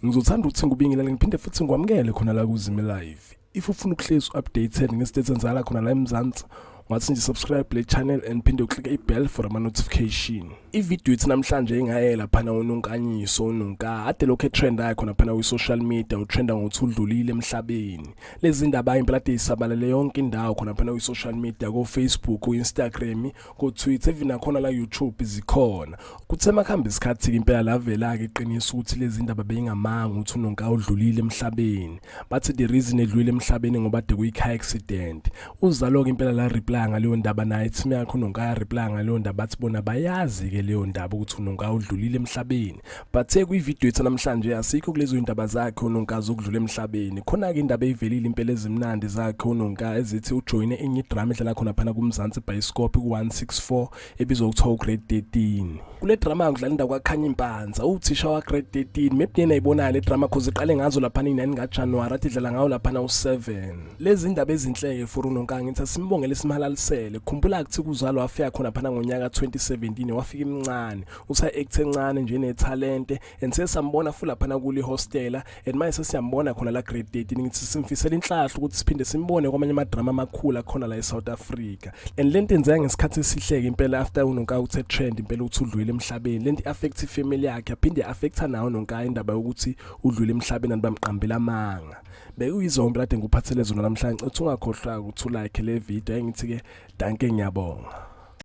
ngizothanda ukuthi ngikubingelele ngiphinde futhi ngikwamukele khona la kuzime live if ufuna ukuhlezi u-updated ngesithethe enzala khona la emzansi ungathi nje subscribe le channel and phinde uklike i-bell for ama-notification ividiyo ithi namhlanje ingaye laphana unonkanyiso unonka ade lokhu etrend ayo khona phana kwi-social media utrenda ngokuthi udlulile emhlabeni lezi ndaba impela ade isabalele yonke indawo khona phana kwi-social media kofacebook ku-instagram kotwitter even nakhona la youtube zikhona kuthe makuhambe isikhathi-ke impela lavela-ke iqiniso ukuthi lezi ndaba beyingamanga ukuthi unonka udlulile emhlabeni bathi the reason edlulile emhlabeni ngoba de kuyi-car accident uzalo ke impela la reply ngaleyo ndaba naye team yakho nonkaya reply ngaleyo ndaba athi bona bayazi ke leyo ndaba ukuthi unonka udlulile emhlabeni but ekwi video ethu namhlanje asikho kulezo indaba zakhe unonka zokudlula emhlabeni khona ke indaba eyivelile impela ezimnandi zakhe unonka ezithi ujoine enye drama edlala khona phana kumzansi bioscope ku 164 ebizwa kuthiwa ugrade 13 kule drama yakudlala indawo kwakhanya impanza uthisha wagrade 13 maybe niyena ayibonaya le drama cause iqale ngazo laphana inani ngajanuwari athi idlala ngawo laphana u-7 lezi ndaba ezinhle-ke for unonkangi ngithi asimbongele simhalalisele khumbula kuthi kuzalo wafika khona phana ngonyaka 2017 wafika imncane usa-act encane njenethalente and sesambona futhi laphana kuli hostela and manje sesiyambona khona la grade 13 ngithi simfisela inhlahla ukuthi siphinde simbone kwamanye ama drama amakhulu akhona la eSouth Africa and lento enzeka ngesikhathi esihleke impela after unonka uthe trend impela ukuthi udlwile emhlabeni lento affect family yakhe aphinde affecta nawo nonka indaba yokuthi udlwile emhlabeni and bamqambela amanga bekuyizombe lade ngikuphathele zona namhlanje uthi ungakhohlwa ukuthi ulike le video engithi ke danke ngiyabonga